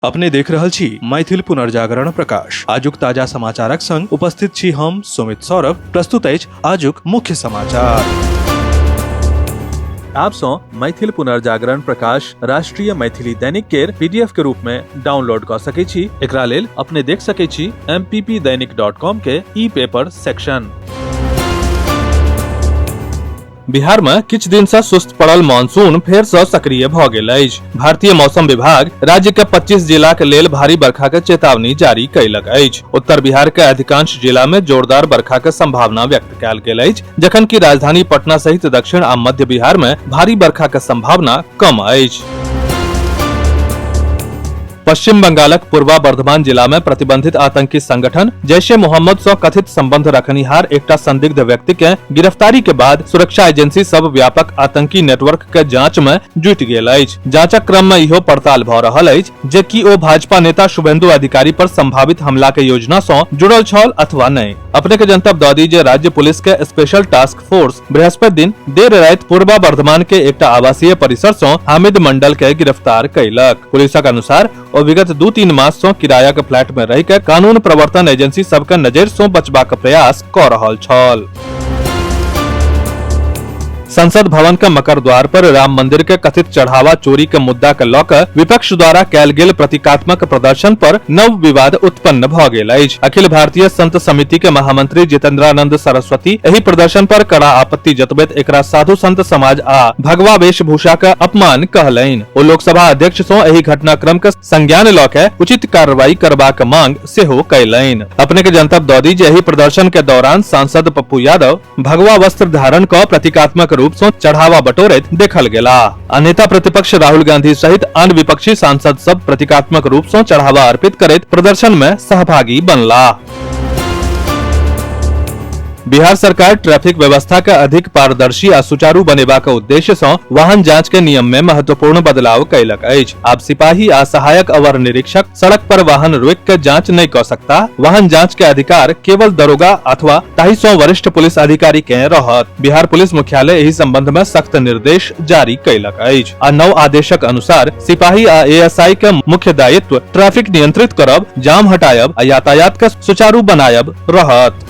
अपने देख रहल छी मैथिल पुनर्जागरण प्रकाश आजुक ताजा समाचारक संग उपस्थित छी हम सुमित सौरभ प्रस्तुत अछि आजुक मुख्य समाचार आप सो मैथिल पुनर्जागरण प्रकाश राष्ट्रीय मैथिली दैनिक केर पीडीएफ के रूप में डाउनलोड क सके छी एकरा लेल अपने देख सके छी mppdainik.com के ई पेपर सेक्शन बिहार में किछु दिन से सुस्त पड़ल मानसून फेर से सक्रिय भ गेल अछि भारतीय मौसम विभाग राज्य के 25 जिला के लेल भारी बरखा के चेतावनी जारी कैलक अछि उत्तर बिहार के अधिकांश जिला में जोरदार बरखा के संभावना व्यक्त कैल गेल अछि जखन कि राजधानी पटना सहित दक्षिण आ मध्य बिहार में भारी बरखा के संभावना कम अछि पश्चिम बंगालक पूर्वा बर्धमान जिला में प्रतिबंधित आतंकी संगठन जैश ए मोहम्मद सं कथित संबंध रखनिहार एकटा संदिग्ध व्यक्ति के गिरफ्तारी के बाद सुरक्षा एजेंसी सब व्यापक आतंकी नेटवर्क के जांच में जुट गेल अछि जांचक क्रम में इहो पड़ताल भ रहल अछि जे कि ओ भाजपा नेता शुभेंदु अधिकारी पर संभावित हमला के योजना सं जुड़ल छल अथवा नहि अपने के जनतब दऽ दी जे राज्य पुलिस के स्पेशल टास्क फोर्स बृहस्पति दिन देर राति पूर्वा वर्धमान के एकटा आवासीय परिसर सँ हामिद मंडल के गिरफ्तार कयलक पुलिसक अनुसार ओ विगत दू तीन मास सँ किरायाक फ्लैट मे रहि के कानून प्रवर्तन एजेंसी सबके नजरि सँ बचबाक प्रयास कऽ रहल छल संसद भवन के मकर द्वार पर राम मंदिर के कथित चढ़ावा चोरी के मुद्दा के लऽ कऽ विपक्ष द्वारा कयल गेल प्रतीकात्मक प्रदर्शन पर नव विवाद उत्पन्न भऽ गेल अछि अखिल भारतीय संत समिति के महामंत्री जितेंद्रानंद सरस्वती एहि प्रदर्शन पर कड़ा आपत्ति जतबैत एकरा साधु संत समाज आ भगवा वेशभूषा के अपमान कहलनि ओ लोकसभा अध्यक्ष सँ एहि घटनाक्रम के संज्ञान लऽ कऽ उचित कार्रवाई करबाक मांग सेहो कयलनि अपने के जनतब दऽ दी जे एहि प्रदर्शन के दौरान सांसद पप्पू यादव भगवा वस्त्र धारण क प्रतीकात्मक रूप से चढ़ावा बटोरैत देखल गेला आ नेता प्रतिपक्ष राहुल गांधी सहित आन विपक्षी सांसद सब प्रतीकात्मक रूप से चढ़ावा अर्पित करैत प्रदर्शन में सहभागी बनला बिहार सरकार ट्रैफिक व्यवस्था के अधिक पारदर्शी आ सुचारू बनेबाक उद्देश्य सँ वाहन जांच के नियम में महत्वपूर्ण बदलाव कयलक अछि आब सिपाही आ सहायक अवर निरीक्षक सड़क पर वाहन रोक के जांच नहीं कर सकता वाहन जांच के अधिकार केवल दरोगा अथवा ताही सौ वरिष्ठ पुलिस अधिकारी के रहत बिहार पुलिस मुख्यालय एहि संबंध में सख्त निर्देश जारी कैलक अछि आ नव आदेशक अनुसार सिपाही आ एएसआई के मुख्य दायित्व ट्रैफिक नियंत्रित करब जाम हटायब आ यातायात के सुचारू बनायब रहत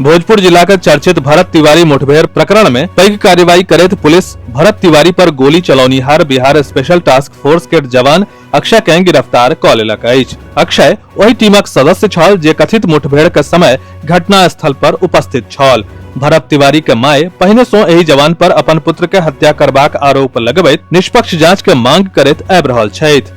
भोजपुर जिला के चर्चित भरत तिवारी मुठभेड़ प्रकरण में पैघ कार्रवाई करैत पुलिस भरत तिवारी पर गोली चलौनिहार बिहार स्पेशल टास्क फोर्स के जवान अक्षय के गिरफ्तार क लेलक अछि अक्षय ओहि टीमक सदस्य छल जे कथित मुठभेड़ के समय घटना स्थल पर उपस्थित छल भरत तिवारी के माय पहिने सो एहि जवान पर अपन पुत्र के हत्या करबाक आरोप लगबैत निष्पक्ष जांच के मांग करैत आबि रहल छथि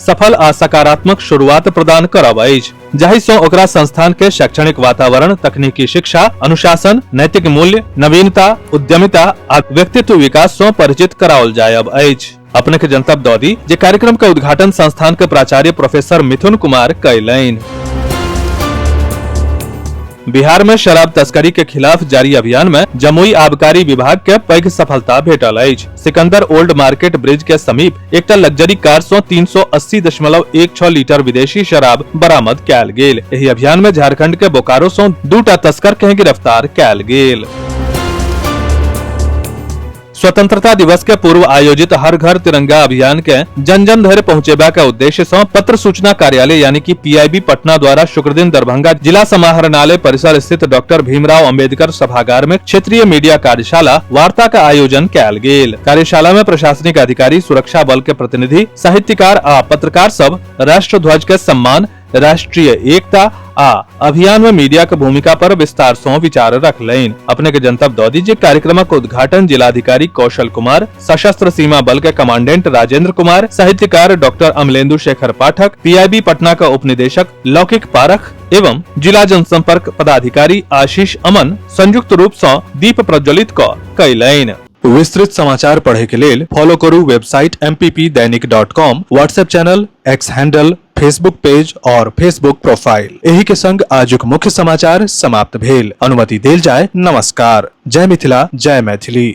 सफल आ सकारात्मक शुरुआत प्रदान करब अछि जाहि सँ ओकरा संस्थान के शैक्षणिक वातावरण तकनीकी शिक्षा अनुशासन नैतिक मूल्य नवीनता उद्यमिता आ व्यक्तित्व विकास सँ परिचित कराओल जायब अछि अपने के जनतब दऽ दी जे कार्यक्रम के उद्घाटन संस्थान के प्राचार्य प्रोफेसर मिथुन कुमार कयलनि बिहार में शराब तस्करी के खिलाफ जारी अभियान में जमुई आबकारी विभाग के पैघ सफलता भेटल अछि सिकंदर ओल्ड मार्केट ब्रिज के समीप एकटा लग्जरी कार सं 380.16 लीटर विदेशी शराब बरामद कयल गेल एहि अभियान में झारखंड के बोकारो सं दूटा तस्कर के गिरफ्तार कयल गेल स्वतंत्रता दिवस के पूर्व आयोजित हर घर तिरंगा अभियान के जन जन धरि पहुँचेबा के उद्देश्य से पत्र सूचना कार्यालय यानी कि पीआईबी पटना द्वारा शुक्र दिन दरभंगा जिला समाहरणालय परिसर स्थित डॉक्टर भीमराव अंबेडकर सभागार में क्षेत्रीय मीडिया कार्यशाला वार्ता का आयोजन कयल गेल कार्यशाला में प्रशासनिक अधिकारी सुरक्षा बल के प्रतिनिधि साहित्यकार आ पत्रकार सब राष्ट्र ध्वज के सम्मान राष्ट्रीय एकता आ अभियान में मीडिया के भूमिका पर विस्तार सौ विचार रखलैन अपने के जनतब दऽ दीजिए कार्यक्रमक उद्घाटन जिलाधिकारी कौशल कुमार सशस्त्र सीमा बल के कमांडेंट राजेंद्र कुमार साहित्यकार डॉक्टर अमलेंदु शेखर पाठक पीआईबी पटना का उपनिदेशक लौकिक पारख एवं जिला जनसंपर्क पदाधिकारी आशीष अमन संयुक्त रूप से दीप प्रज्वलित क कैलैन विस्तृत समाचार पढ़े के लेल फॉलो करू website M P P Dainik dot com WhatsApp channel X handle Facebook page और फेसबुक प्रोफाइल एही के संग आजुक मुख्य समाचार समाप्त भेल अनुमति देल जाय नमस्कार जय मिथिला जय मैथिली